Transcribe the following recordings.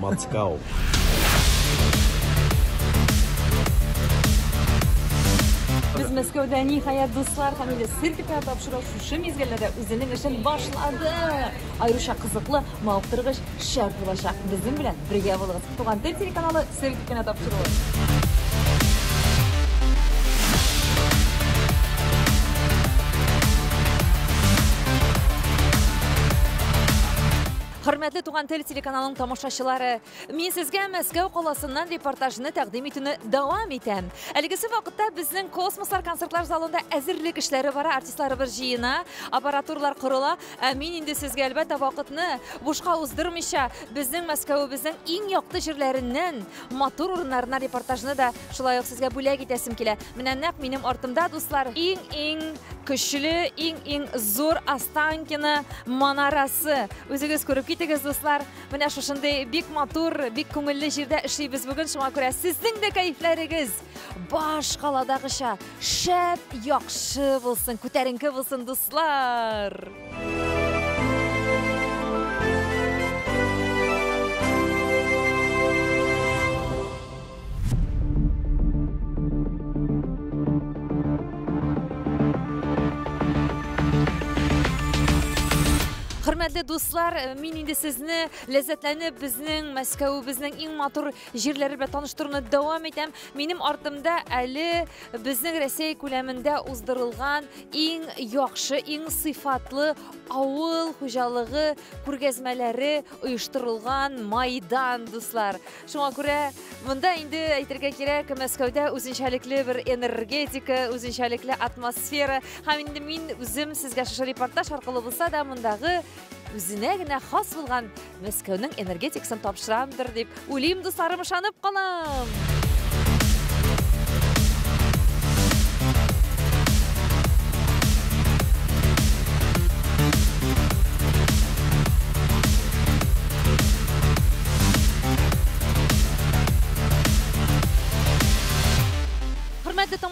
Мацкау. Без Мәскәүдә ниһаять дуслар һәм инде сертификат тапшыру шушы мизгелдә дә үзенең эшен башлады. Аеруча кызыклы, мавыктыргыч шәр булачак. Безнең белән бергә булыгыз. Туган тел телеканалы сер кенә тапшыруы. Хөрмәтле Туган тел телеканалының тамашачылары, мин сезгә Мәскәү каласыннан репортажны тәкъдим итүне дәвам итәм. Әлегесе вакытта безнең космослар концертлар залында әзерлек эшләре бара, артистларыбыз җыена, аппаратурлар корыла. Ә мин инде сезгә әлбәттә вакытны бушка уздырмыйча, безнең Мәскәвебезнең иң якты җирләреннән матур урыннарына репортажны да шулай ук сезгә бүләк итәсем килә. Менә нәкъ минем артымда, дуслар, иң-иң көчле, иң-иң зур Останкино манарасы. Үзегез күреп китегез, дуслар. Менә шушындый бик матур, бик күңелле җирдә эшлибез бүген, шуңа күрә сезнең дә кәефләрегез башкаладагыча шәп яхшы булсын күтәренке булсын дуслар Хөрмәтле дуслар, э, мин инде сезне ләззәтләнеп безнең Мәскәүебезнең иң матур җирләре белән таныштыруны дәвам итәм. Минем артымда әле безнең Россия күләмендә уздырылган иң яхшы, иң сыйфатлы авыл хуҗалыгы күргәзмәләре оештырылган майдан, дуслар. Шуңа күрә монда инде әйтергә кирәк, Мәскәүдә үзенчәлекле бер энергетика, үзенчәлекле атмосфера. Һәм инде мин үзем сезгә шушы репортаж аркылы булса да мондагы үзенә генә хас булган Мәскәүнең энергетикасын тапшырамдыр дип, үлим дусларым ышанып калам.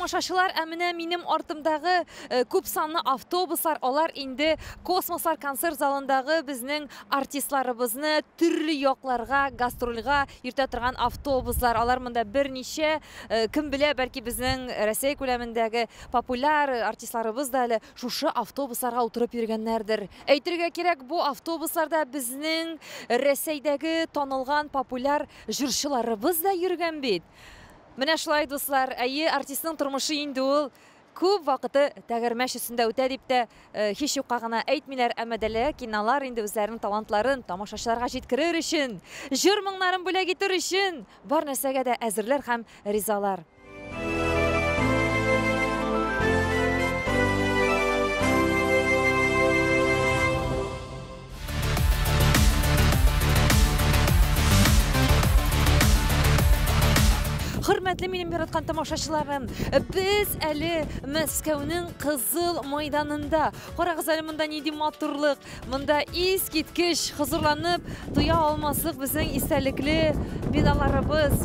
тамашачылар, ә менә минем артымдагы э, күп санлы автобуслар, алар инде космослар концерт залындагы безнең артистларыбызны төрле якларга гастрольга йөртә торган автобуслар, алар монда берничә, э, кем белә, бәлки безнең Россия күләмендәге популяр артистларыбыз да әле шушы автобусларга утырып йөргәннәрдер. Әйтергә кирәк, бу автобусларда безнең Рәсәйдәге танылган популяр җырчыларыбыз да йөргән бит. Менә шулай, дуслар, әйе, артистның тормышы инде ул Күп вакыты тәгәрмәч өстендә үтә дип тә һич юкка гына әйтмиләр, әмма Дәлия Киналар инде үзләренең талантларын тамашачыларга җиткерер өчен, җыр-моңнарын бүләк итер өчен бар нәрсәгә дә әзерләр һәм ризалар. Хөрмәтле минем яраткан тамашачыларым, без әле Мәскәүнең кызыл майданында. Карагыз әле монда нинди матурлык, монда ис киткеч хозурланып туя алмаслык безнең истәлекле биналарыбыз.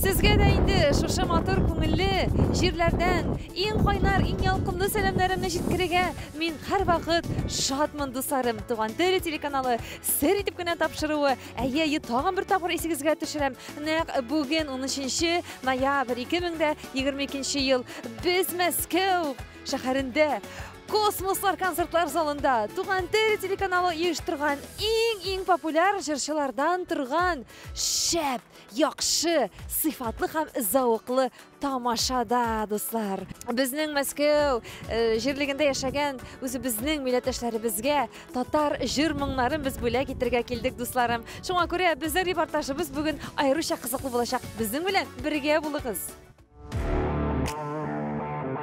Сезгә дә инде шушы матур күңелле җирләрдән иң кайнар, иң ялкынлы сәламнәремне җиткерергә Мин һәрвакыт шатмын, дусларым! Туган тел телеканалы сер итеп кенә тапшыруы, әйе, әйе, тагын бер тапкыр исегезгә төшерәм, нәкъ бүген, унөченче ноябрь, 2022 ел, без Мәскәү шәһәрендә Космослар концертлар залында Туган тел телеканалы оештырган иң-иң популяр җырчылардан торган шәп, яхшы, сыйфатлы һәм зәвыклы тамашада дуслар безнең мәскәү э, җирлегендә яшәгән үзебезнең милләттәшләребезгә татар җыр моңнарын без бүләк итәргә килдек дусларым шуңа күрә безнең репортажыбыз бүген аеруча кызыклы булачак безнең белән бергә булыгыз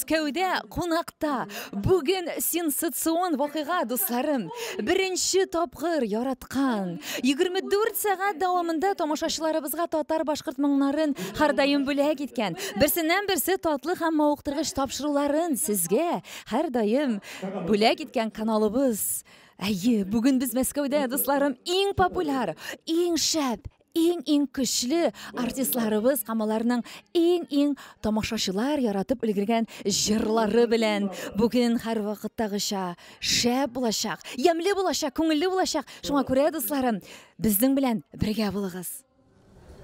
Мәскәүдә кунакта бүген сенсацион вакыйга, дусларым. Беренче тапкыр яраткан 24 сәгать дәвамында тамашачыларыбызга татар-башкорт моңнарын һәрдаим бүләк иткән, берсеннән-берсе татлы һәм мавыктыргыч тапшыруларын сезгә һәрдаим бүләк иткән каналыбыз. Әйе, бүген без Мәскәүдә, дусларым, иң популяр, иң шәп, иң-иң көчле артистларыбыз һәм аларның иң-иң тамашачылар яратып өлгергән җырлары белән бүген һәрвакыттагыча шәп булачак, ямьле булачак, күңелле булачак. Шуңа күрә, дусларым, безнең белән бергә булыгыз.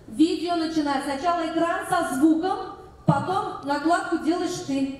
Видео начинать. Сначала экран со звуком, потом накладку делаешь ты.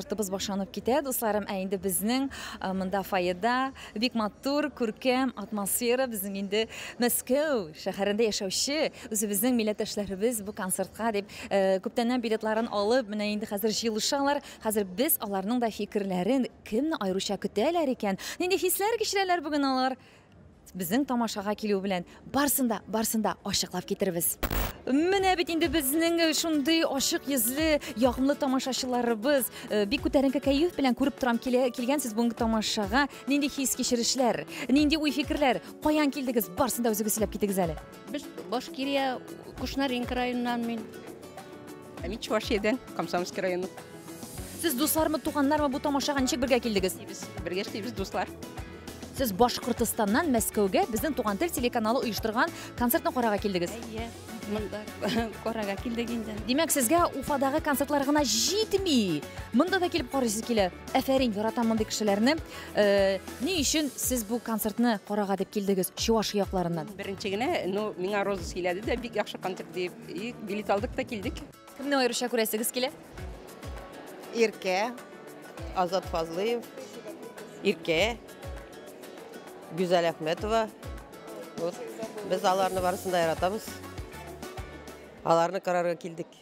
Концертыбыз башланып китә, дусларым, ә инде безнең монда фойеда бик матур, күркәм атмосфера, безнең инде Мәскәү шәһәрендә яшәүче үзебезнең милләттәшләребез бу концертка дип күптәннән билетларын алып, менә инде хәзер җыелышалар. Хәзер без аларның да фикерләрен, кемне аеруча көтәләр икән, нинди хисләр кичерәләр бүген алар? Безнең тамашага килү белән барсын да, барсын да ачыклап китербез. Менә бит инде безнең э, шундый ачык йөзле, ягымлы тамашачыларыбыз. Э, бик күтәренке кәеф белән күреп торам килә, килгәнсез бүгенге тамашага. Нинди хис-кичерешләр, нинди уй-фикерләр, каян килдегез, барсын да үзегез сөйләп китегез әле. Без Башкирия Кушнаренко районыннан мин. Ә мин Чувашиядән, Комсомольский районы. Сез дуслармы, туганнармы бу тамашага ничек бергә килдегез? Без бергә эшлибез, дуслар. Сез Башкортостаннан Мәскәүгә безнең Туган тел телеканалы оештырган концертны карарга килдегез. Әйе, монда карарга килдек инде. Димәк, сезгә Уфадагы концертлар гына җитми. Монда да килеп карыйсыз килә. Әфәрин, яратам мондый кешеләрне. Э, ни өчен сез бу концертны карага дип килдегез чувашия якларыннан беренче генә ну миңа роза сөйләде дә бик яхшы концерт дип и билет алдык та килдек кемне аеруча күрәсегез килә иркә азат фазлыев иркә гүзәл әхмәтова вот без аларны барысын да яратабыз аларны карарга килдек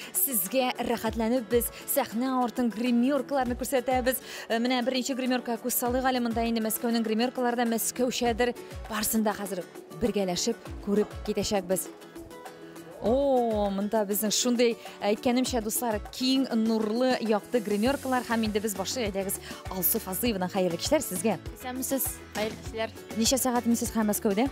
Сезгә рәхәтләнеп без сәхнә артын гримеркаларны күрсәтәбез. Э, менә беренче гримерка күз салыйк әле монда инде Мәскәүнең гримеркалары да Мәскәүчәдер. Барсын да хәзер бергәләшеп күреп китәчәкбез. О, монда безнең шундый әйткәнемчә дуслар, киң нурлы якты гримеркалар һәм инде без башлык әйдәгез Алсу Фазыевна хәерле кичләр сезгә. Исәнмесез, хәерле кичләр. Ничә сәгать инде сез Мәскәүдә?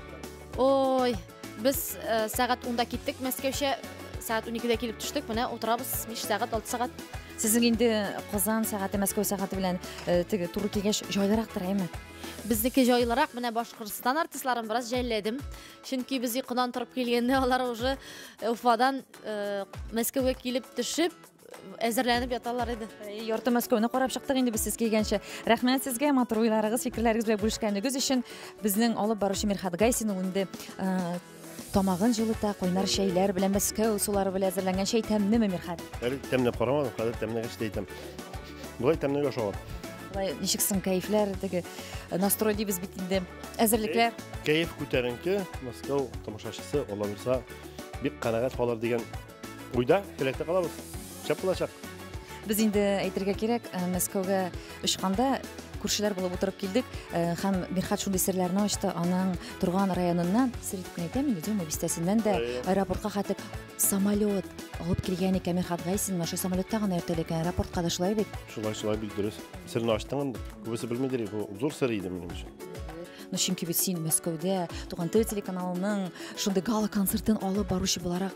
Ой, Без э, сәгать 10-да киттек Мәскәүчә, сәгать 12-дә килеп төштек. Менә утырабыз 5 сәгать, 6 сәгать. Сезнең инде Казан сәгате, Мәскәү сәгате белән э, теге туры килгәч җайлырактыр, әйме? Безнеке җайлырак, менә Башкортстан артистларын бераз жәлләдем. Чөнки без йокыдан торып килгәндә алар уже э, Уфадан э, Мәскәүгә килеп төшеп, әзерләнеп яталар иде ярты мәскәүне карап чыктык инде без сез килгәнче рәхмәт сезгә матур уйларыгыз фикерләрегез белән бүлешкәнегез өчен безнең алып баручы мирхат гайсин ул инде тамагын җылыта кайнар чәйләр белән мәскәү сулары белән әзерләнгән чәй тәмлеме мирхат әле тәмләп карамадым хәзер тәмләгәч тә әйтәм болай тәмләгәч ала былай ничек соң кәефләр теге настрой дибез бит инде әзерлекләр кәеф күтәренке мәскәү тамашачысы алла бирса бик канәгать калыр дигән Уйда, теләктә калабыз. Шәп булачак. Без инде әйтергә кирәк, э, Мәскәүгә очканда күршеләр булып утырып килдек э, һәм Мирхат шундый серләрне ачты, аның торган районыннан, сер итеп кенә әйтәм инде, Дюма бистәсеннән дә аэропортка хәтер самолет алып килгән икән Мирхат Гайсин, шул самолетта гына йөртелә икән, аэропортка да шулай бит. Шулай, шулай бит дөрес. Серне ачтың инде. Күбесе белмидер, бу зур сер иде минем өчен. Ну, чөнки бит син Мәскәүдә туган тел телеканалының шундый гала концертын алып баручы буларак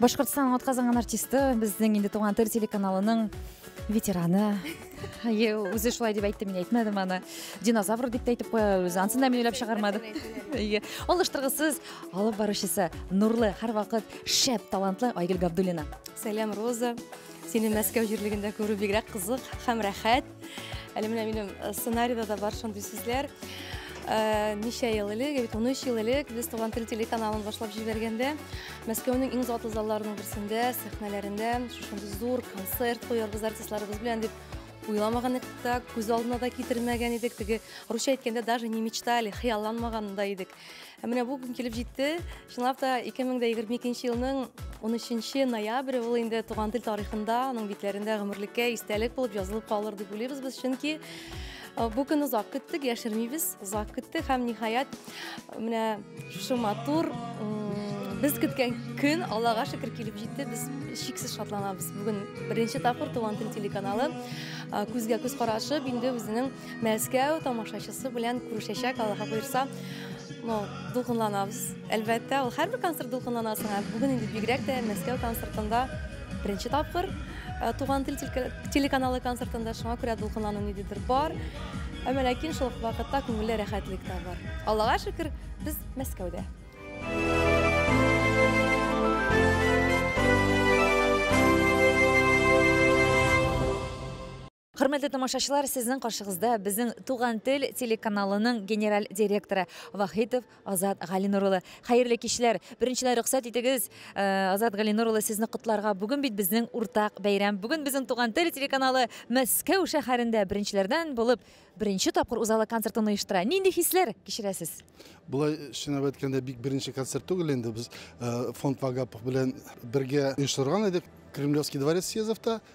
башкортстан атказанган артисты безнең инде туган тел телеканалының ветераны әйе үзе шулай дип әйтте мин әйтмәдем аны динозавр дип тә әйтеп куя үзе ансын да мин уйлап чыгармадым әйе алыштыргысыз алып баручысы нурлы һәрвакыт шәп талантлы айгөл габдуллина сәлам роза сине мәскәү җирлегендә күрү бигрәк кызык һәм рәхәт Әле менә минем э, сценарийда да бар шундый сүзләр. Э, ничә ел элек, бит 13 ел элек без Туган тел телеканалын башлап җибәргәндә, Мәскәүнең иң затлы залларының берсендә, сәхнәләрендә шундый зур концерт куярбыз артистларыбыз белән дип уйламаган идек, күз алдына да китермәгән идек. Теге русча әйткәндә даже не мечтали, хыялланмаган да идек. Ә менә бу көн килеп җитте. Чынлап та 2022 елның 13 ноябрь ул инде туган тел тарихында, аның битләрендә гомерлеккә истәлек булып язылып калыр дип уйлыйбыз без, чөнки бу көн озак көттек, яшермибез, озак көттек һәм ниһаять менә шушы матур без көткән көн аллага шөкер килеп җитте без шиксез шатланабыз бүгін бірінші тапқыр туған тел телеканалы күзгә күз қарашып енді өзінің Мәскәү тамашачысы белән күрешәчәк, Аллаһы буйрса. Ну, дулкынланабыз. Әлбәттә, ул һәрбер концерт дулкынланасың. Ә бүген инде бигрәк тә Мәскәү концертында беренче тапкыр э, Туган тел телеканалы концертында шуңа күрә дулкынлану ниндидер бар. Әмма ләкин шул вакытта күңелле рәхәтлек тә бар. Аллага шөкер, без Мәскәүдә. Хөрмәтле тамашачылар, сезнең каршыгызда безнең Туган тел телеканалының генераль директоры Вахитов Азат Галинур улы. Хәерле кичләр. Беренчеләр рөхсәт итегез, э, Азат Галинур улы сезне котларга. Бүген бит безнең уртак бәйрәм. Бүген безнең Туган тел телеканалы Мәскәү шәһәрендә беренчеләрдән булып беренче тапкыр узалы концертын оештыра. Нинди хисләр кичерәсез? Болай чынлап әйткәндә бик беренче концерт түгел инде без э, фонд Вагапов белән бергә оештырган идек. Кремлевский дворец съездовта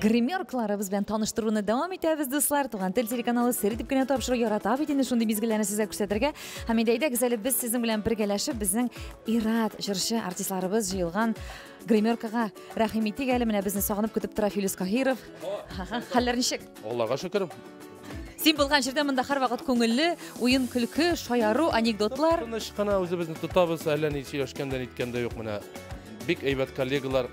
Гримеркларыбыз белән таныштыруны дәвам итәбез, дуслар. Туган тел телеканалы сер итеп кенә тапшыру ярата бит инде шундый мизгелләрне сезгә күрсәтергә. Һәм инде әйдәгез әле без сезнең белән бергәләшеп безнең ират җырчы артистларыбыз җыелган гримеркага рәхим итик әле. Менә безне сагынып көтеп тора Филүс Каһиров. Хәлләр ничек? Аллага шөкер. Син булган җирдә монда һәрвакыт күңелле, уен көлке, шаяру, анекдотлар. Тыныч кына үзебезне тотабыз, әллә ни сөйләшкәндә ниткәндә юк менә. Бик әйбәт коллегалар,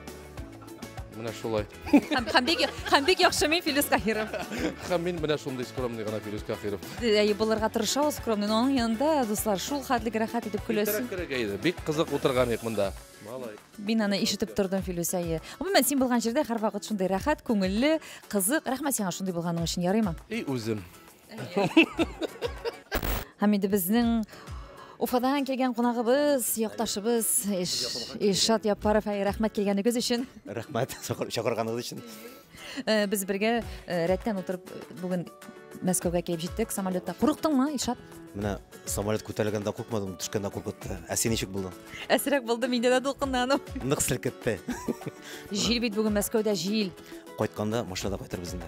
Менә шулай. Һәм һәм бик һәм бик яхшы мин Филүс Каһиров. Һәм мин менә шундый скромный гына Филүс Каһиров. Әй, булырга тырышабыз скромный, но аның янында, дуслар, шул хәтле рәхәт итеп көләсез. Иртәрәк керергә иде. Бик кызык утырган идек монда. Малай. Мин аны ишетеп тордым, Филүс, әйе. Гомумән, син булган җирдә һәрвакыт шундый рәхәт, күңелле, кызык. Рәхмәт сиңа шундый булганың өчен, ярыймы? И үзем. Һәм инде безнең Уфадан килгән кунагыбыз, якташыбыз Ишат Япаров, рәхмәт килгәнегез өчен. Рәхмәт, чакырганыгыз өчен. Э, без бергә э, рәттән утырып э, бүген Мәскәүгә килеп җиттек самолетта. Курыктыңмы, Ишат? Менә самолет күтәрелгәндә куркмадым, төшкәндә куркытты. Ә син ничек булдың? Әсрәк булды, миндә дә дулкынлану. Нык селкетте. Җил бит бүген Мәскәүдә җил. Кайтканда машинада кайтырбыз инде.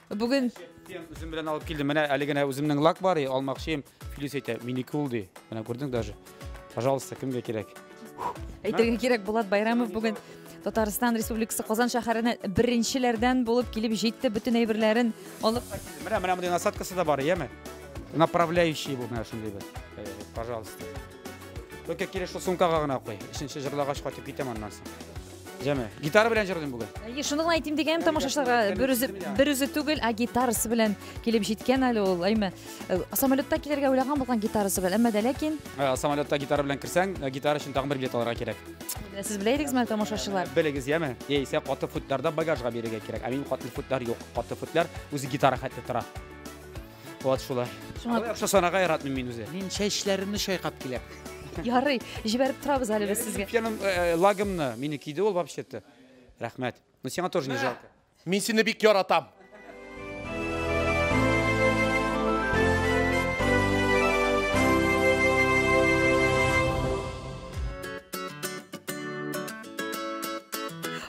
Бүген үзем белән алып килдем. Менә әле генә үземнең лак бар, алмакчым. Филис әйтә, минеке ул ди. Менә күрдең даже. Пожалуйста, кемгә кирәк? Әйтергә кирәк, Булат Байрамов бүген Татарстан Республикасы Казан шәһәренә беренчеләрдән булып килеп җитте, бөтен әйберләрен алып. Менә менә мондый насадкасы да бар, яме? Направляющий бу менә шундый бер. Э, пожалуйста. Только кире шул сумкага гына куй. Ишенче җырлагач кайтып китәм аннан соң. Җәме. Гитара белән җырлыйм бүген. Әйе, шуны гына әйтим дигәнем тамашачыларга бер үзе бер үзе түгел, ә гитарасы белән килеп җиткән әле ул. Әйме, э, самолетта килергә уйлаган булган гитарасы белән, әмма дә ләкин Ә, Самолетта гитара белән кирсәң, ә, гитара өчен тагын бер билет алырга кирәк. Ә, сез белә идегезме әле тамашачылар? Белегез, яме? Яисә каты футларда багажга бирергә кирәк. Ә минем каты футлар юк. Каты футлар үзе гитара хәтле тора. Вот шулай. Шуңа Алай акча санарга яратмыйм мин үзе. Мин чәчләремне чайкап киләм. ярый, җибәреп торабыз әле без сезгә. Пьяным э, э, лагымны мине киде ул вообще-то. Рәхмәт. Ну сиңа тоже не жалко. Мин сине бик яратам.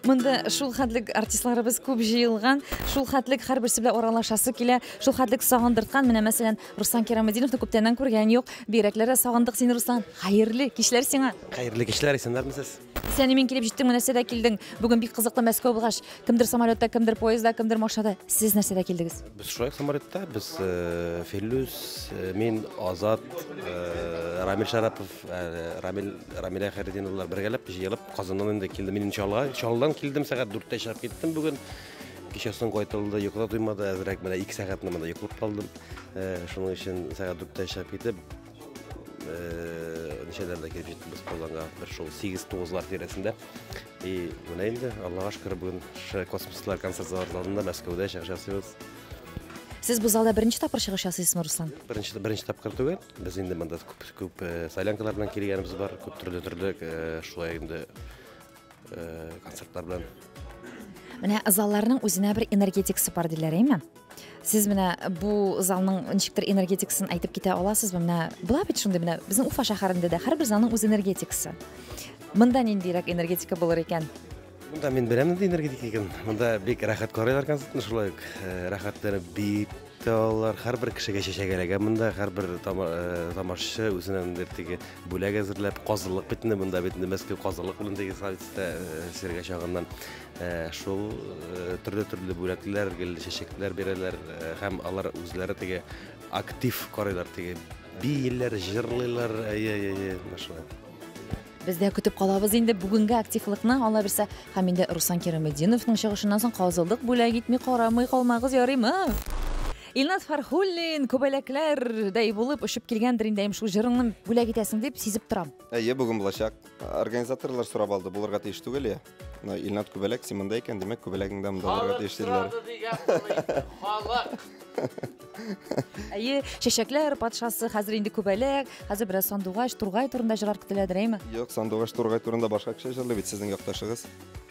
Монда шул хәтлек артистларыбыз күп җыелган, шул хәтлек һәрберсе белән аралашасы килә, шул хәтлек сагындырткан. Менә мәсәлән, Руслан Кирамединовны күптәннән күргән юк. Бигрәкләр дә сагындык сине, Руслан. Хәерле кичләр сиңа. Хәерле кичләр, исәннәрмесез? Сәни мин килеп җиттең, менә сәдә килдең. Бүген бик кызыклы Мәскәү булгач, кемдер самолетта, кемдер поездда, кемдер машинада. Сез нәрсәдә килдегез? Без шулай самолетта, без э, Филүс, э, мин Азат, э, Рамил Шарапов, Рамил, Рамилә Хәрединовлар бергәләп җыелып Казаннан инде килде. Мин Чалга, Чалдан килдем, сәгать 4-тә чыгып киттем бүген. Кичәсен кайтылды, йокыда туймады, әзрәк менә 2 сәгатьне монда йоклап калдым. Э, шуның өчен сәгать 4-тә чыгып китеп, э, ничәләрдә килеп җиттек без Казанга, бер шул 8-9-лар тирәсендә. И менә инде Аллага шөкер бүген космослар концерт залында Мәскәүдә чыгыш ясыйбыз. Сез бу залда беренче тапкыр чыгыш ясыйсызмы, Руслан? Беренче беренче тапкыр түгел. Без инде монда күп күп солянкалар белән килгәнебез бар, күп төрле төрле шулай инде концертлар белән. Менә залларның үзенә бер энергетикасы бар диләр, әйме? сез менә бу залның ничектер энергетикасын әйтеп китә аласызбы менә була бит шундый менә безнең уфа шәһәрендә дә һәрбер залның үз энергетикасы мында ниндирәк энергетика булыр икән Монда мин беләм нинди энергетик икән. Монда бик рәхәт карыйлар концертны шулай ук. Э, рәхәтләр бит алар һәрбер кешегә чәчәк эләгә монда һәрбер э, тамашачы үзенә ниндидер теге бүләк әзерләп казылык бит инде монда бит инде мәскәү казылык белән теге садистә э, сиргә чагыннан э, шул төрле төрле бүләкләр гел чәчәкләр бирәләр һәм алар үзләре теге актив карыйлар теге бииләр җырлыйлар әйе әйе әйе шулай Без дә көтеп калабыз инде бүгенге активлыкны, алла бирсә, һәм инде Руслан Кирамединовның чыгышыннан соң казылдык бүләк итми карамый калмагыз, ярыймы? Илназ Фархуллин күбәләкләрдәй булып очып килгәндер инде, әйм шул җырыңны бүләк итәсең дип сизеп торам. Әйе, бүген булачак. Организаторлар сорап алды, булырга тиеш түгел, я? Мына Илнат күбәләк син монда икән, димәк күбәләгеңдә монда булырга тиеш диделәр. Халык сорады дигән булды. Халык. Әйе, чәчәкләр патшасы, хәзер инде күбәләк, хәзер бераз сандугач, тургай турында җырлар көтеләдер, әйме? Юк, сандугач тургай турында башка кеше җырлый бит сезнең якташыгыз.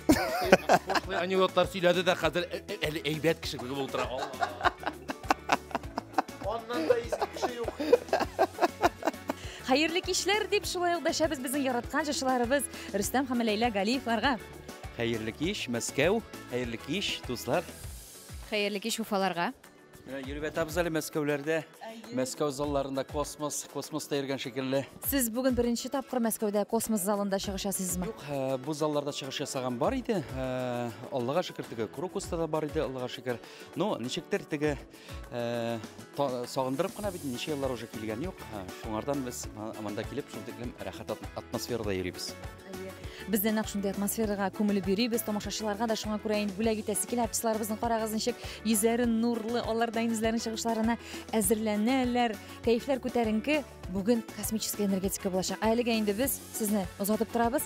Пошлый анекдотлар сөйләде дә хәзер э, э, әле әйбәт кеше булып утыра. Алла. Аннан да иске кеше юк. Хәерле кичләр дип шулай ук дәшәбез безнең яраткан җырчыларыбыз Рөстәм һәм Ләйлә Галиевларга. Хәерле кич, Мәскәү. Хәерле кич, дуслар. Хәерле кич, Уфаларга. Менә йөреп ятабыз әле Мәскәүләрдә. Мәскәү залларында космос, космоста йөргән шикелле. Сез бүген беренче тапкыр Мәскәүдә космос залында чыгыш ясыйсызмы? Юк, э, бу залларда чыгыш ясаган бар иде. Э, Аллага шөкер, теге Крокуста да бар иде, Аллага шөкер. Но ничектер теге Э, сагындырып кына бит ничә еллар уже килгән юк шуңардан без монда килеп шул тиклем рәхәт атмосферада йөрибез без дә нәкъ шундый атмосферага күмелеп йөрибез тамашачыларга да шуңа күрә инде бүләк итәсе килә артистларыбызны карагыз ничек йөзләре нурлы алар да үзләренең чыгышларына әзерләнәләр кәефләр күтәренке бүген космическая энергетика булачак әлегә инде без сезне озатып торабыз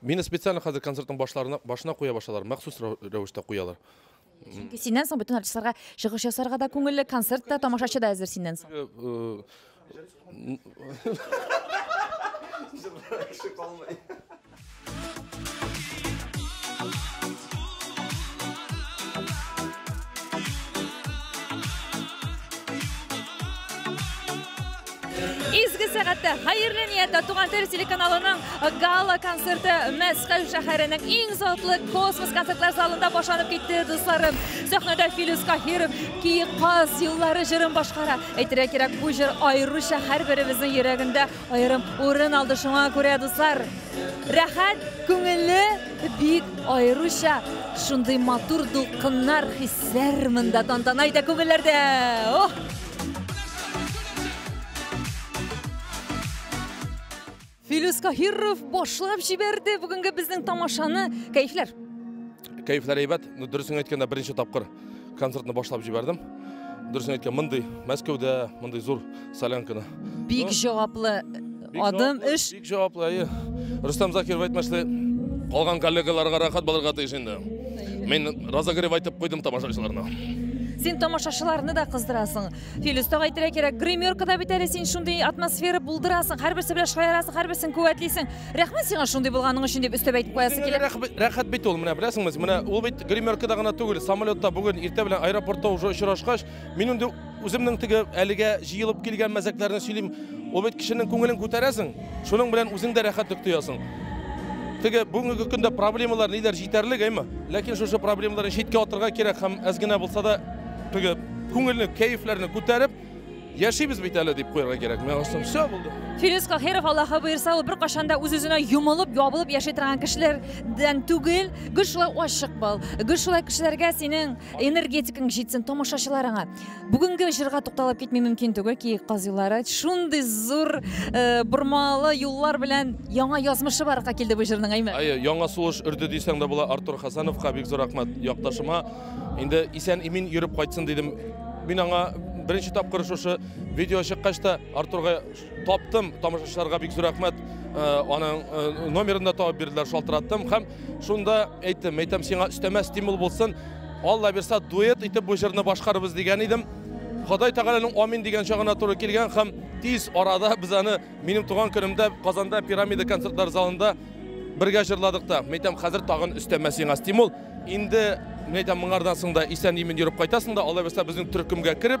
Мине специально хәзер концертның башларына башына куя башлалар, махсус рәвештә куялар. Чөнки синнән соң бөтен артистларга чыгыш ясарга да күңелле, концерт та, тамашачы да әзер синнән соң. Э, Изге сәгатьтә хәерле нияттә Туган тел телеканалының гала концерты Мәскәү шәһәренең иң затлы космос концертлар залында башланып китте, дусларым. Сәхнәдә Филүс Каһиров Киек каз юллары җырын башкара. Әйтергә кирәк, бу җыр аеруча һәрберебезнең йөрәгендә аерым урын алды. Шуңа күрә, дуслар, рәхәт, күңелле, бик аеруча шундый матур дулкыннар, хисләр монда тантана итә күңелләрдә. Ох! Филүс Каһиров башлап җибәрде бүгенге безнең тамашаны. Кәйфләр. Кәйфләр әйбәт. Ну дөресен әйткәндә беренче тапкыр концертны башлап җибәрдем. Дөресен әйткәндә мондый Мәскәүдә, мондый зур солянканы. Бик җаваплы Адым эш. Бик җаваплы, әйе. Рустам Закиров әйтмешли, калган коллегаларга рәхәт булырга тиеш инде. Мин разогрев айтып куйдым тамашачыларына. Син тамашачыларны да кыздырасың. Филүс тагы әйтергә кирәк, гримеркада бит әле син шундый атмосфера булдырасың, һәрберсе белән шаярасың, һәрберсен куәтлисең. Рәхмәт сиңа шундый булганың өчен дип өстәп әйтеп куясы килә. Рәхәт бит ул, менә беләсеңме? Менә ул бит гримеркада гына түгел, самолетта бүген иртә белән аэропортта уже очрашкач, Мин инде үземнең теге әлегә җыелып килгән мәзәкләрне сөйлим. Ул бит кешенең күңелен күтәрәсең, шуның белән үзең дә рәхәтлек тоясың. Теге бүгенге көндә проблемалар ниләр җитәрлек, әйме? Ләкин шушы проблемаларны читкә атырга кирәк һәм әз генә булса да теге күңелне, кәефләрне күтәреп яшибез бит әле дип куярга кирәк. Миңа соң все булды. Фирис Кахиров Аллаһы буйырса, ул бер кашан да үз-үзенә йомылып, ябылып яши торган кешеләрдән түгел. Гел шулай ачык бул. Гел шулай кешеләргә синең энергетикаң җитсен тамашачыларыңа бүгенге җырга тукталып китми мөмкин түгел киек каз юллары шундый зур э, бормалы юллар белән яңа язмышы барга килде бу җырның әйме әйе яңа сулыш өрде дисәң дә була артур хасановка бик зур рәхмәт якташыма инде исән имин йөреп кайтсын дидем мин аңа беренче тапкыр шушы видео чыккач та артурга Таптым, тамашачыларга бик зур рәхмәт. Э, аның э, номерын да табып бирделәр, шалтыраттым һәм шунда әйттем, әйтәм, сиңа өстәмә стимул булсын. Алла бирса, дуэт итеп бу җырны башкарыбыз дигән идем. Ходай Тәгаләнең амин дигән чагына туры килгән һәм тиз арада без аны минем туган көнемдә Казанда пирамида концертлар залында бергә җырладык та. Мәйтәм, хәзер тагын өстәмә сиңа стимул. Инде мәйтәм моңардан соң да исән-имин йөреп кайтасың да, алла бирса безнең төркемгә кереп,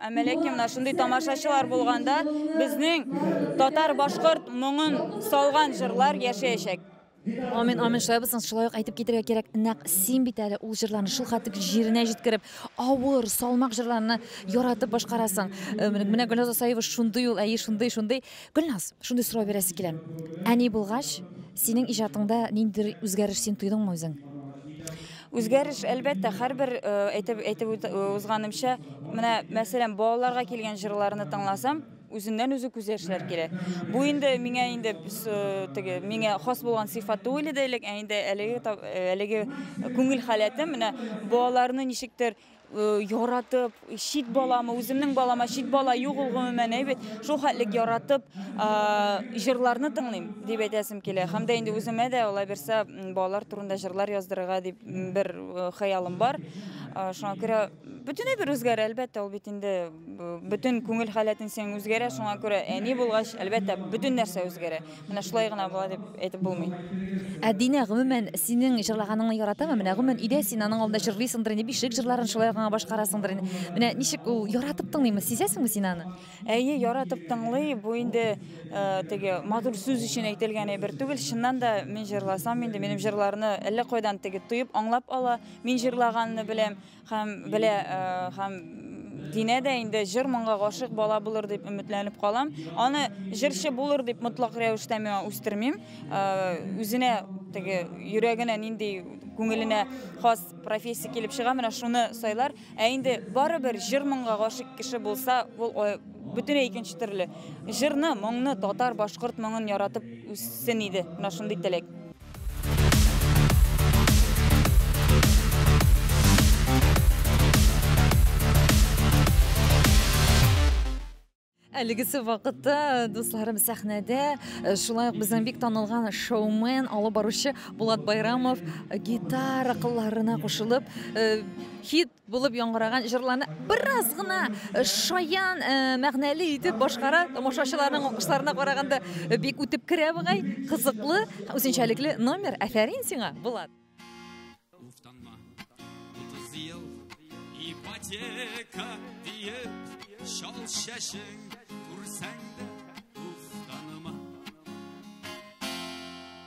Әмма ләкин менә шундый тамашачылар булганда безнең татар-башкорт моңын салган җырлар яшәячәк. Амин, амин, шулай булсын. Шулай ук әйтеп китәргә кирәк, нәкъ син бит әле ул җырларны шул хәтлек җиренә җиткереп, авыр, салмак җырларны яратып башкарасың. Э, менә Гөлназ Асаева шундый ул, әйе, шундый, шундый. Гөлназ, шундый сорау бирәсе килә. Әни булгач, синең иҗатыңда ниндидер үзгәреш син тойдыңмы үзең? Үзгәреш, әлбәттә, һәрбер э, әйтеп әйтеп э, узганымча, менә мәсәлән, балаларга килгән җырларны тыңласам, үзеннән үзе күз яшьләр килә. Бу инде миңа инде э, теге миңа хас булган сыйфат түгел иде элек, ә инде әлеге әлеге күңел халәтем менә балаларны ничектер яратып, чит баламы, үземнең балама чит бала юк ул гомумән әйбәт. Шул хәтлек яратып, җырларны тыңлыйм дип әйтәсем килә. Һәм дә инде үземә дә алай берсә балалар турында җырлар яздырырга дип бер хыялым бар. Шуңа күрә бөтенләй бер үзгәрә, әлбәттә, ул бит инде бөтен күңел халәтен сен үзгәрә. Шуңа күрә әни булгач, әлбәттә, бөтен нәрсә үзгәрә. Менә шулай гына була дип әйтеп булмый. Ә Динә гомумән синең җырлаганыңны яратамы? Менә гомумән өйдә син аның алдында җырлыйсыңдыр инде, бишек җырларын шулай гына башкарасыңдыр инде. Менә ничек ул яратып тыңлыймы? Сизәсеңме син аны? Әйе, яратып тыңлый. Бу инде э, теге матур сүз өчен әйтелгән әйбер түгел. Чыннан да мин җырласам инде минем җырларны әллә кайдан теге тоеп аңлап ала. Мин җырлаганны беләм. Һәм белә, э, һәм динә дә инде җыр-моңга гашык бала булыр дип өметләнеп калам. Аны җырчы булыр дип мотлак рәвештә миңа үстермим. Э, үзенә теге йөрәгенә нинди күңеленә хас профессия килеп чыга, менә шуны сайлар. Ә инде барыбер җыр-моңга гашык кеше булса, ул бөтенләй икенче төрле. Җырны, моңны, татар, башкорт моңын яратып үссен иде. Менә шундый теләк. Әлегесе вакытта э, дусларым сәхнәдә э, шулай ук безнең бик танылган шоумен, алып баручы Булат Байрамов э, гитара кылларына кушылып хит Булып яңгыраган җырларны бераз гына шаян мәгънәле итеп башкара, тамашачыларның алкышларына караганда бик үтеп керә бугай, кызыклы, үзенчәлекле номер. Афәрин сиңа, Булат. Уфтанма. 30 ел ипотека диеп шал шәшең күрсәң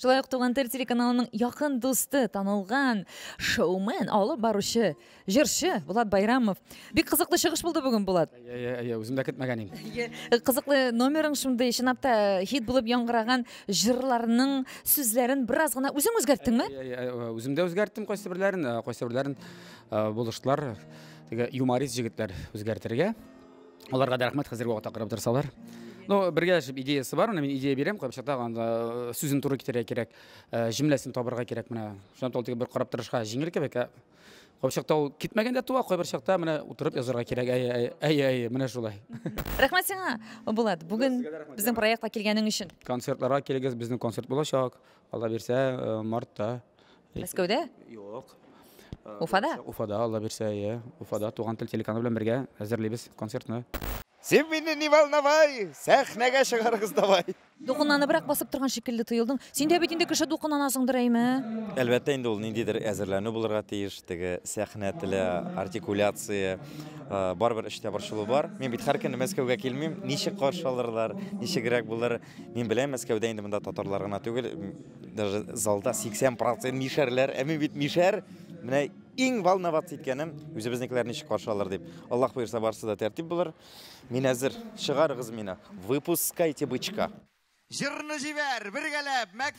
Шулай ук Туган тел телеканалының якын дусты, танылган шоумен, алып баручы, җырчы Булат Байрамов. Бик кызыклы чыгыш булды бүген, Булат. Әйе, әйе, үзем дә көтмәгән идем. Кызыклы номерың шундый, чынлап та хит булып яңгыраган җырларның сүзләрен бераз гына үзең үзгәрттеңме? Үзем дә үзгәрттем кайсы берләрен, кайсы берләрен булыштылар. Теге юморист җегетләр үзгәртергә. Аларга да рәхмәт хәзерге вакытта карап торсалар. Ну, бергә яшәп идеясы бар, менә мин идея бирәм, кайбер чакта анда э, сүзен туры китерергә кирәк, э, җөмләсен табырга кирәк менә. Шуннан тол тик бер карап торышка җиңел кебек. ә Кайбер чакта ул китмәгәндә туа, кайбер чакта менә утырып язарга кирәк. Әй, әй, әй, әй, менә шулай. Рәхмәт сиңа, Булат, бүген безнең проектка килгәнең өчен. Концертларга килегез, безнең концерт булачак. Алла бирсә, э, мартта. Мәскәүдә? Юк. Э, Уфада? Уфада, Алла бирсә, иә. Уфада туган тел телеканалы белән бергә әзерлибез концертны. Син мине не волновай, сәхнәгә чыгарыгыз давай. Дулкынланыбрак басып торган шикелле тоелдың. Син дә бит инде кеше дулкынланасыңдыр әйме? Әлбәттә инде ул ниндидер әзерләнү булырга тиеш, теге сәхнә теле, артикуляция, барыбер эштә борчылу бар. Мин бит һәр көнне Мәскәүгә килмим. Ничек каршы алырлар, ничегрәк булыр? Мин беләм, Мәскәүдә инде монда татарлар гына түгел, даже залда 80% мишәрләр. Ә мин бит мишәр. Менә иң волноваться иткәнем, үзебезнекеләр ничек каршы алыр дип. Аллаһ боерса, барысы да тәртип булыр. Мин әзер. Чыгарыгыз мине. Выпускайте бычка. Җырны җибәр, бергәләп, мәк...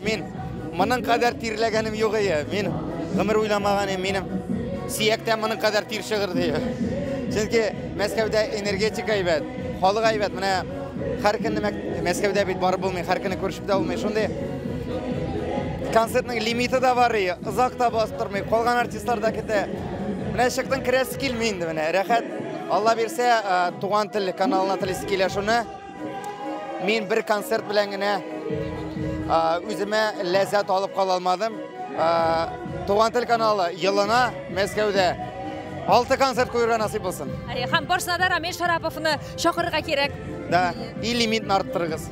Мин моның кадәр тирләгәнем юк ие. Мин гомер уйламаган идем. Минем сөяктә моның кадәр тир чыгыр ди. Чөнки Мәскәүдә энергетика әйбәт, халык әйбәт. Менә һәр көнне Мәскәүдә бит барып булмый, һәр көнне күршеп тә булмый. Шундый концертның лимиты да бар ие. Озак та бастырмый, калган артистлар да китә. Менә чыктың, керәсе килми инде менә. Рәхәт. Алла бирсә, туган тел каналына телисе килә шуны. Мин бер концерт белән генә үземә ләззәт алып кала алмадым. Туган тел каналы елына Мәскәүдә алты концерт куюга насыйп булсын. Һәм барсына да Рамил Шараповны чакырырга кирәк. Да, и лимитны арттырыгыз.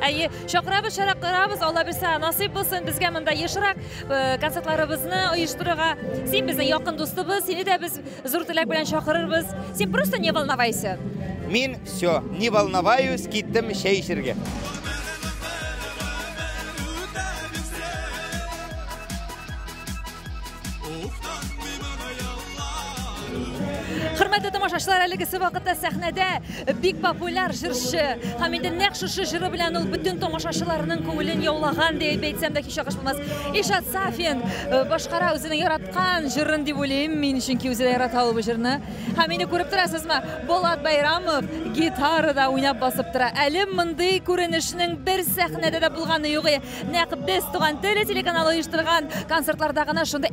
Әйе, чакырабыз, чаракырабыз, Алла бирсә, насыйп булсын безгә монда ешрак концертларыбызны оештырырга. Син безнең якын дустыбыз, сине дә без Зур теләк белән чакырырбыз. Син просто не волновайся. Мин все, не волноваюсь, киттем чәй эчәргә. Хөрмәтле тамашачылар, әлегесе вакытта сәхнәдә Бик популяр җырчы һәм инде нәкъ шушы җыры белән ул бөтен тамашачыларның күңелен яулаган дип әйтсәм дә һич ялгыш булмас. Ишат Сафин э, башкара үзенең яраткан җырын дип уйлыйм мин, чөнки үзе дә ярата ул бу җырны. Һәм инде күреп торасызмы, Болат Байрамов гитарада уйнап басып тора. Әле мондый күренешнең бер сәхнәдә дә булганы юк. Нәкъ без туган теле телеканалы оештырган концертларда гына шундый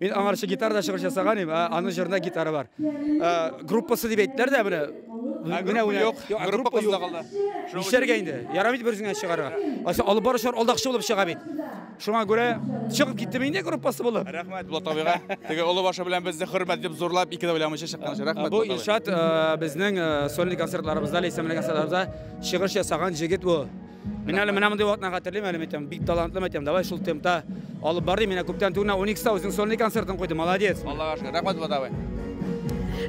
Мин аңарчы гитарада чыгыш ясаган идем, ә аның җырында гитара бар. Ә, Группасы дип әйттеләр дә менә. Менә уйна. Юк, Юк, группа группа кызда юк. калды. Нишләргә инде? Ярамый бит берсенә чыгарга. Ася алып баручылар алдакчы булып чыга бит. Шуңа күрә чыгып киттем инде группасы булып. Рәхмәт Булат абыйга. Теге олы башы белән безне хөрмәт дип зурлап, ике дә уйламыйча чыккан өчен рәхмәт. Бу Булат абый. Илшат э, безнең э, сольный концертларыбызда, ләйсәнле концертларыбызда чыгыш ясаган җегет бу. Мин әле менә мондый вакытны хәтерлим әле мәйтәм, бик талантлы мәйтәм. Давай шул темпта алып бар ди. Менә күптән түгел 12-та үзең сольный концертын куйды. Молодец. Аллага шөкер. Рәхмәт Булат абый.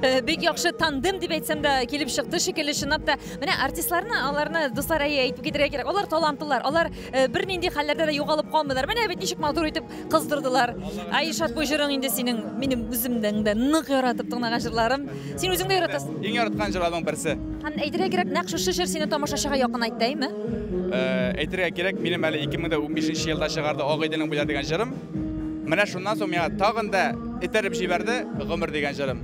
Э, бик яхшы тандем дип әйтсәм дә килеп чыкты шикелле чынлап та менә артистларны аларны дуслар әйтеп китергә кирәк алар талантлылар алар э, бернинди хәлләрдә дә югалып калмыйлар менә бит ничек матур итеп кыздырдылар. Айшат бу җырың инде синең минем үземнең дә нык яратып тыңлаган җырларым. Син үзең дә яратасың. Иң яраткан җырларның берсе. Һәм әйтергә кирәк, нәкъ шушы җыр сине тамашачыга якынайтты, әйме? Э, әйтергә кирәк, минем әле 2015 елда чыгарды Ак Идәнең буйлар дигән җырым. Менә шуннан соң миңа тагын да этәреп җибәрде Гомер дигән җырым.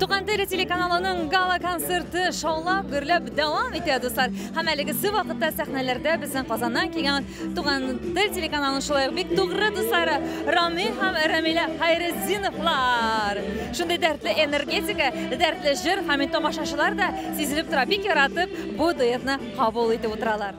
Туган теле телеканалының гала концерты шаулап, гөрләп дәвам итә, дуслар. Һәм әлегесе вакытта сәхнәләрдә безнең Казаннан килгән Туган тел телеканалының шулай ук бик тугры дуслары Рами һәм Рамиля Хайретдиновлар. Шундый дәртле энергетика, дәртле җыр һәм тамашачылар да сизелеп тора, бик яратып бу дуэтны кабул итеп утыралар.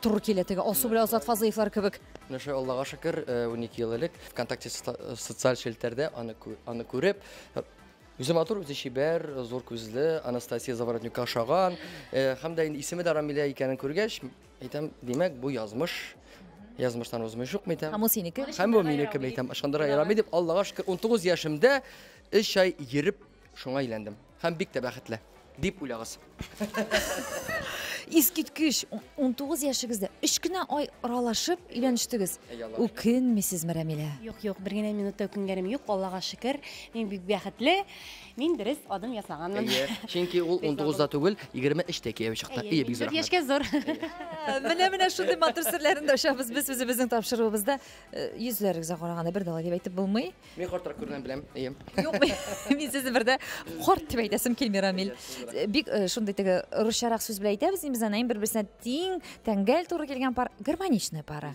Туры килә теге Алсу белән Азат Фазлыевлар кебек. Менә шулай Аллага шөкер, 12 э, ел элек ВКонтакте социаль челтәрдә аны аны күреп, Үзе матур, үзе чибәр, зур күзле, Анастасия Заворотнюкка ошаган. Э, һәм дә инде исеме дә Рамилә икәнен күргәч, әйтәм, димәк, бу язмыш. Язмыштан узмый шук митә. Һәм ул синеке? Һәм бу минеке митә. Ышандыра ярам дип, Аллага шөкер, 19 яшемдә 3 ай йөреп Шуңа өйләндем. Һәм бик тә бәхетле. Дип уйлагыз. Искиткеч, 19 яшегездә өч кенә ай аралашып өйләнештегез. Үкенмисезме, Рәмилә? Юк, юк, бер генә минутта үкенгәнем юк, Аллага шөкер. Мин бик бәхетле. Мин дөрес адым ясаганмын. Әйе, чөнки ул 19-да түгел, 23-тә кияү чыкты. Әйе, бик зур. Яшькә зур. Менә менә шундый матур серләрен дә ачабыз без үзебезнең тапшыруыбызда. Э, йөзләрегезгә караганда бер дә алай дип әйтеп булмый. Мин картрак күргән беләм, әйе. Юк, мин сезне бердә карт дип әйтәсем килми, Рамил. Бик э, шундый теге русчарак сүз белән әйтәбез, без аны бер-берсенә тиң, тәңгәл туры килгән пар, гармоничная пара.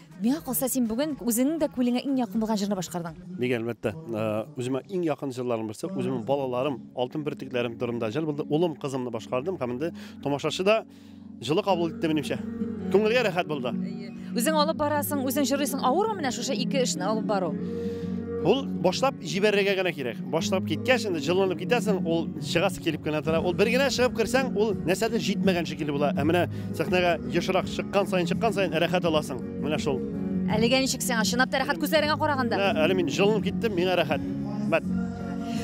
Миңа калса, син бүген үзеңнең дә күңелеңә иң якын булган җырны башкардың. Бик әлбәттә, э, үземә иң якын җырларым берсе, үземнең балаларым, алтын бөртекләрем турында җыр булды. Улым, кызымны башкардым һәм инде тамашачы да җылы кабул итте минемчә. Күңелгә рәхәт булды. Үзең алып барасың, үзең җырлыйсың. Авырмы менә шушы ике эшне алып бару? Ул башлап җибәрергә генә кирәк. Башлап киткәч, инде җылынып китәсең, ул чыгасы килеп кенә тора. Ул бер генә чыгып керсәң, ул нәрсәдер җитмәгән шикелле була. Ә менә Сәхнәгә ешрак чыккан саен, чыккан саен рәхәт аласың. Менә шул. Әлегә ничек сиңа? Чынлап та рәхәт күзләреңә караганда. Менә әле мин җылынып киттем, миңа рәхәт. Мәт.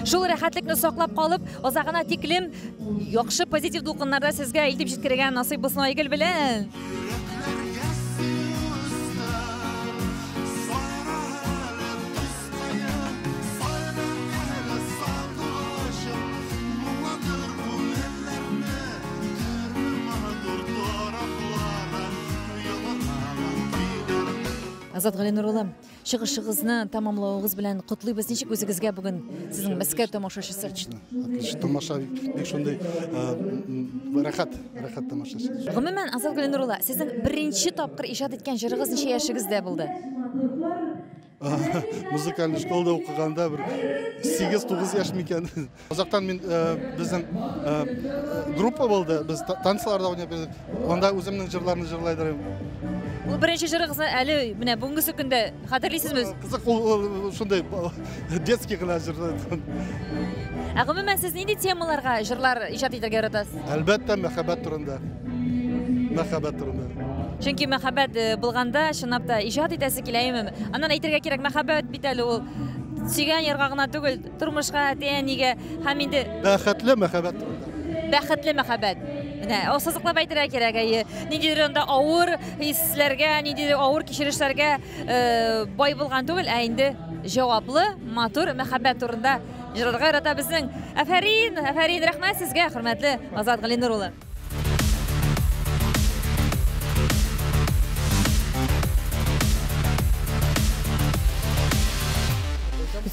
Шул рәхәтлекне саклап калып, озагына тиклем яхшы позитив дулкыннарда сезгә илтеп җиткерергә насыйп булсын Айгөл белән. Азат Галинур улы, чыгышыгызны тәмамлавыгыз белән котлыйбыз. Ничек үзегезгә бүген сезнең Мәскәү тамашачысы? Отлично. Отлично. Тамаша бик шундый э, рәхәт, рәхәт тамашачы. Гомумән, Азат Галинур улы, сезнең беренче тапкыр иҗат иткән җырыгыз ничә яшегездә булды? музыкальный школада укыганда бер сигез тугыз яшь микән озактан мин э, безнең э, группа булды без танцларда уйнап йөрдек анда үземнең җырларны җырлай дөрим ул беренче җырыгызны әле менә бүгенге көндә хәтерлисезме кызык ул шундай детский гына җыр ә гомумән сез нинди темаларга җырлар иҗат итәргә яратасыз әлбәттә мәхәббәт турында мәхәббәт турында Чөнки мәхәббәт э, булганда чынлап та иҗат итәсе килә имем. Аннан әйтергә кирәк, мәхәббәт бит әле ул сөйгән ярга гына түгел, тормышка, әти-әнигә һәм инде бәхетле мәхәббәт. Бәхетле мәхәббәт. Менә ассызыклап әйтергә кирәк, әйе. Ниндидер анда авыр хисләргә, ниндидер авыр кичерешләргә э, бай булган түгел, ә инде җаваплы, матур мәхәббәт турында җырларга ярата безнең. Афәрин, афәрин, рәхмәт сезгә, хөрмәтле Азат Галинур улы.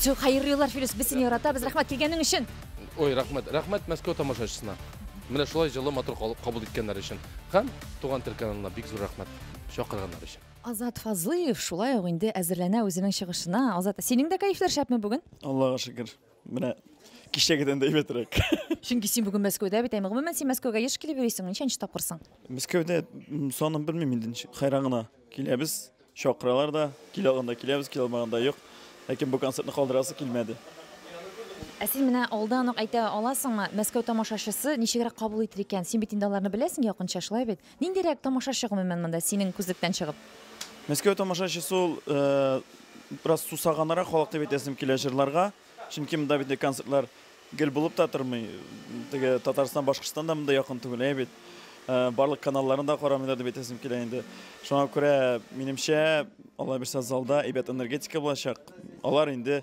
Зур хәерле юллар, Филүс. Без сине яратабыз. Рәхмәт килгәнең өчен. Ой, рәхмәт. Рәхмәт Мәскәү тамашачысына. Менә шулай җылы матур кабул иткәннәр өчен. Һәм Туган тел каналына бик зур рәхмәт чакырганнар өчен. Азат Фазлыев шулай ук инде әзерләнә үзенең чыгышына. Азат, синең дә кәефләр шәпме бүген? Аллага шөкер. Менә кичәгедән дә әйбәтрәк. Чөнки син бүген Мәскәүдә бит, ә гомумән син Мәскәүгә еш килеп йөрисең, ничәнче тапкырсың? Мәскәүдә санын белмим инде, хайран гына. Киләбез, чакыралар да, килә алганда киләбез, килә алмаганда юк. Ләкин бу концертны калдырасы килмәде. Ә син менә алдан ук әйтә аласыңмы, Мәскәү тамашачысы ничегрәк кабул итер икән? Син бит инде аларны беләсең якынча, шулай бит? Ниндирәк тамашачы гомумән монда синең күзлектән чыгып? Мәскәү тамашачысы ул э, бераз сусаганрак халык дип әйтәсем килә җырларга. Чөнки монда бит концертлар гел булып та тормый. Теге Татарстан, Башкортстан да монда якын түгел ә бит. Э, барлык каналларын да карамыйлар дип әйтәсем килә инде. Шуңа күрә, минемчә, алла бирсә залда әйбәт энергетика булачак. Алар инде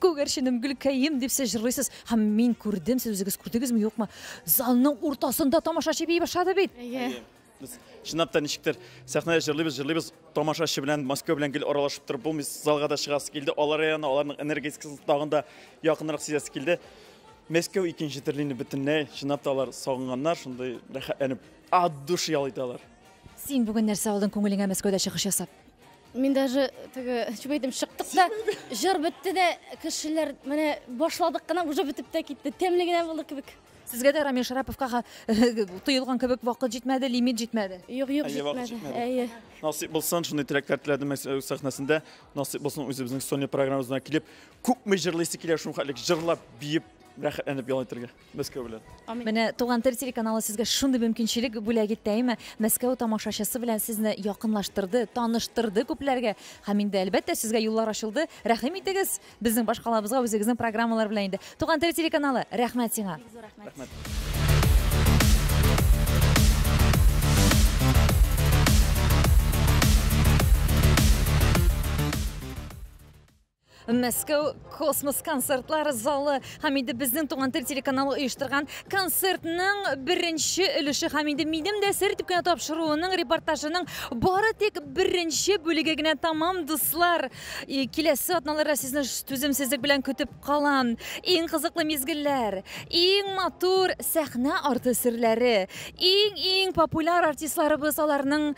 Күгәрченем, гөлкәем, дип сез җырлыйсыз. Һәм мин күрдем, сез үзегез күрдегезме, юкмы? Залның уртасында тамашачы бии башлады бит. Әйе. Без чынлап та ничектер сәхнәдә җырлыйбыз, җырлыйбыз, тамашачы белән, Москва белән гел аралашып торып булмый, залга да чыгасы килде. Алар яна, аларның энергетикасын тагын да якынрак сизәсе килде. Мәскәү икенче төрле инде бөтенләй. Чынлап та алар сагынганнар, шундый рәхәтләнеп, от души ял итәләр. Син бүген нәрсә алдың күңелеңә Мәскәүдә чыгыш ясап? Мин даже теге чүбәйдем чыктык та, җыр бетте дә, кешеләр менә башладык кына, уже бетеп тә китте. Тәмле генә булды кебек. Сезгә дә Рамил Шараповка тоелган кебек вакыт җитмәде, лимит җитмәде. Юк, юк, җитмәде. Әйе. Насыйп булсын, шундый теләкләр теләдем э, сәхнәсендә. Насыйп булсын үзебезнең Соня программабызына килеп, күпме җырлыйсы килә шул хәтлек җырлап, биеп, рәхәтләнеп ял итәргә. Мәскәү белән. Менә Туган тел телеканалы сезгә шундый мөмкинчелек бүләк итте, әйме? Мәскәү тамашачысы белән сезне якынлаштырды, таныштырды күпләргә. Һәм инде, әлбәттә, сезгә юллар ачылды. Рәхим итегез безнең башкалабызга үзегезнең программалар белән инде. Туган тел телеканалы, рәхмәт сиңа. Мәскәү космос концертлар залы һәм инде безнең Туган тел телеканалы оештырган концертның беренче өлеше һәм инде минем дә сер итеп кенә тапшыруының репортажының бары тик беренче бүлеге генә тамам дуслар. И, Киләсе атналарда сезне ш- түземсезлек белән көтеп калам. Иң кызыклы мизгелләр, иң матур сәхнә арты серләре, иң-иң популяр артистларыбыз аларның